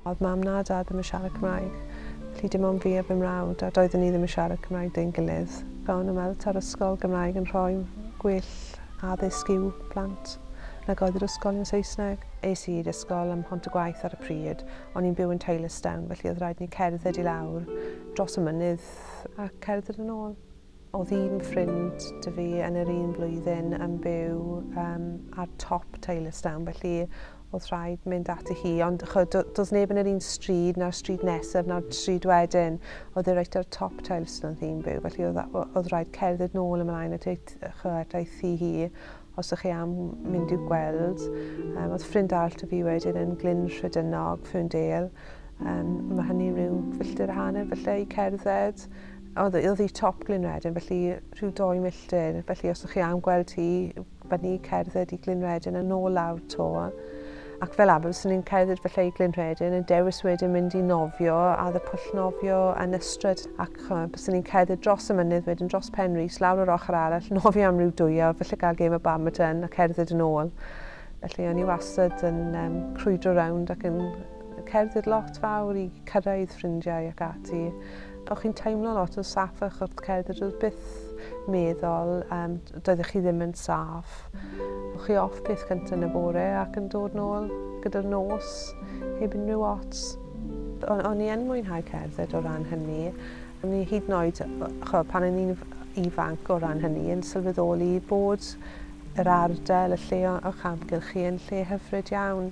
Oedd mam na dad ddim yn siarad Cymraeg. Felly dim ond fi a fy mrawd, a doeddwn ni ddim yn siarad Cymraeg dyn gilydd. Gawn y weld ta'r ysgol Gymraeg yn rhoi gwyll addysg i'w plant nag oedd yr ysgol yn Saesneg. Es i i'r ysgol ym Mhont y Gwaith ar y pryd, O'n i'n byw yn Taylorstown, felly oedd rhaid ni cerdded i lawr dros y mynydd a cerdded yn ôl. Oedd un ffrind dy fi yn yr un blwyddyn yn byw um, ar top Taylorstown, felly oedd rhaid mynd at i hi. Ond cho, do, does neb yn yr un stryd, na'r stryd nesaf, na'r stryd wedyn. Oedd e reit ar top Taylorstown oedd hi'n byw, felly oedd, oedd rhaid cerdded nôl ymlaen at ei, cho, at ei thi hi. Os ych chi am mynd i'w gweld, um, oedd ffrind arall da fi wedyn yn Glyn Rhedynog, Ferndale. Um, mae hynny rhyw filltir hanner felly i cerdded. Oedd oedd hi top Glyn Redyn, felly rhyw doi milltir. Felly os ych chi am gweld hi, fyny cerdded i Glyn Redyn yn ôl lawr to. Ac fel arfer fyswn i'n cerdded falle i Glyn Rhedyn yn dewis wedyn mynd i nofio ar y pwll nofio yn Ystrad ac ch'mo' byswn i'n cerdded dros y mynydd wedyn dros Pen Rhys lawr yr ochr arall nofio am ryw dwy awr falle gael gêm o badminton a cerdded yn ôl. Felly o'n i wastad yn yym crwydro rownd ac yn cerdded lot fawr i cyrraedd ffrindiau ac ati. O'ch chi'n teimlo lot yn saff o'ch wrth cerdded doedd byth meddwl um, doeddech chi ddim yn saff. O'ch chi off peth cyntaf yn y bore ac yn dod nôl gyda'r nos heb unrhyw ots. O'n, on i yn mwynhau cerdded o ran hynny. O'n i hyd yn oed, cho, pan o'n i'n ifanc o ran hynny, yn sylweddoli bod yr ardal, y lle o'ch amgylch chi yn lle hyfryd iawn.